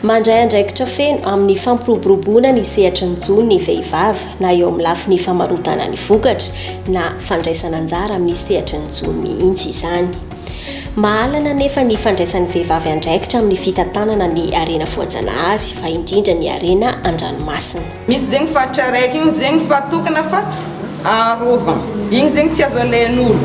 Mandray andraikitra feno amin'ny fampiroboroboana ny sehatry ny jono ny vehivavy, na eo amin'ny lafiny famarotana ny vokatra, na fandraisana anjara amin'ny sehatry ny jono mihitsy izany. Mahalana anefa ny fandraisan'ny vehivavy andraikitra amin'ny fitantanana ny harena voajanahary, fa indrindra ny harena an-dranomasina. Misy zegny faritra raiky igny zegny fa tokona fa aharova igny zegny tsy azo alain'olo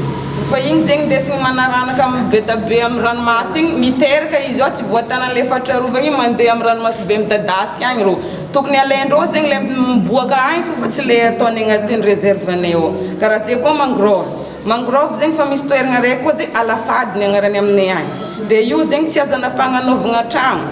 fa igny zegny ndesigny manaranaka am bedabe am ranomasy igny miteraka izy ao tsy voatanany le faritra arovagna igny mande am ranomasibe midadasika agny rô tokony alaindrô zegny le miboaka agny fô fa tsy le ataony agnaty reserve-nay ao kara ze koa mangorôva Mangrove zegny fa misy toeragna ray koa zay alafady ny agnarany aminay agny de io zegny tsy azo anapagnanaovagna tragno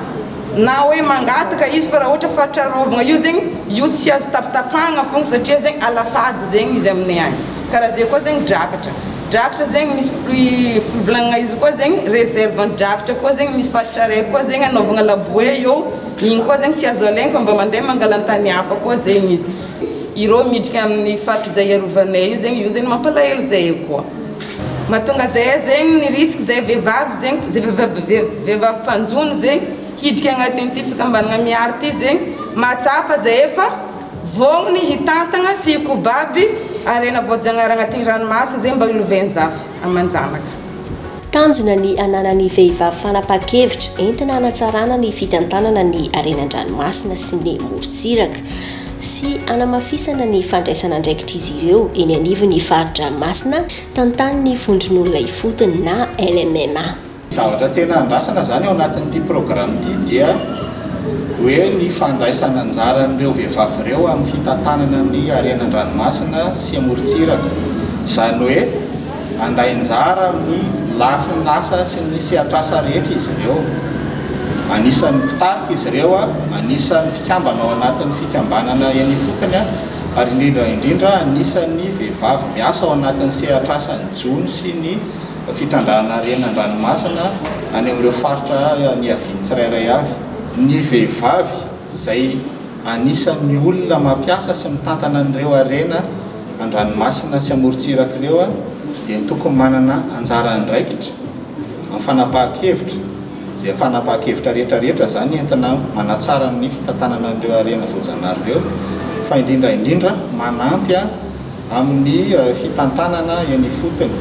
na hoe mangataka izy fa raha ohatra fa trarovagna io zegny io tsy azo tapitapahagna fôgna satria zegny alafady zegny izy aminay agny karaha zay koa zegny drakatra drakatra zegny misy fri- fivolagnagna izy koa zegny reserve drakatra koa zegny misy faritra ray koa zegny anaovagna laboe eo igny koa zegny tsy azo alaigny fa mba mandeha mangalantany hafa koa zegny izy Ireo miditra amin'ny faritra izay hiarovanay io zegny, io zegny mampalahelo zay koa. Mahatonga zay zegny ny risque zay vehivavy zegny, zay vehivavy vehivavy mpanjono zegny hiditra agnatin'ity fikambanagna Mihary ty zegny, mahatsapa zay fa vôgniny hitantagna sy hikobaby harena voajanahary agnatin'ny ranomasina zegny mba hilovain-jafy aman-janaka. Tanjona ny hananan'ny vehivavy fanapahan-kevitra entina hanatsarana ny fitantanana ny harena an-dranomasina sy ny morontsiraka sy hanamafisana ny fandraisana andraikitr'izy ireo eny anivon'ny fari-dranomasina tantanin'ny Vondron'olona Ifotony na LMMA. Zavatra tena andrasana izany ao anatin'ity programa ity dia hoe ny fandraisana anjaran'ireo vehivavy ireo amin'ny fitantanana ny harena an-dranomasina sy amorontsiraka. Izany hoe. Handray anjara amin'ny lafiny asa sy ny sehatrasa rehetra izy ireo. Anisan'ny mpitarika izy ireo, anisan'ny mpikambana ao anatin'ny fikambanana eny ifotony ary indrindra indrindra anisan'ny vehivavy miasa ao anatin'ny sehatrasan'ny jono sy ny fitandrana harena an-dranomasina any amin'ireo faritra niaviany tsirairay avy. Ny vehivavy izay anisan'ny olona mampiasa sy mitantana an'ireo harena. an-dranomasina sy amorontsiraka ireo dia ny tokony manana anjara andraikitra amin'ny fanapahan-kevitra, izay fanapahan-kevitra rehetra rehetra izany entina manatsara ny fitantanana an'ireo harena voajanahary ireo fa indrindra indrindra manampy amin'ny fitantanana eny ifotony.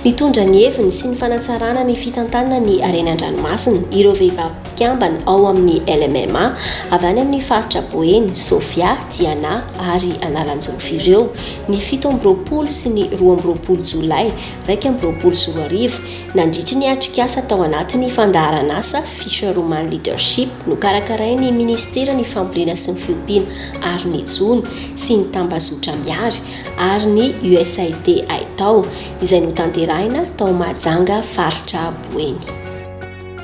Nitondra ny heviny sy ny fanatsarana ny fitantanana ny harena an-dranomasina ireo vehivavy. mpikambana ao amin'ny LMMA avy any amin'ny faritra Boeny, Sofia, Diana ary Analanjirofy ireo ny fito amby roapolo sy ny roa amby roapolo Jolay iraika amby roapolo sy roa arivo nandritry ny atrikasa tao anatin'ny fandaharan'asa Fisherwoman Leadership nokarakarain'ny Ministeran'ny Fambolena sy ny Fiompiana ary ny Jono sy ny Tambazotra Miary ary ny USAID Aitao izay notanterahina tao Mahajanga faritra Boeny.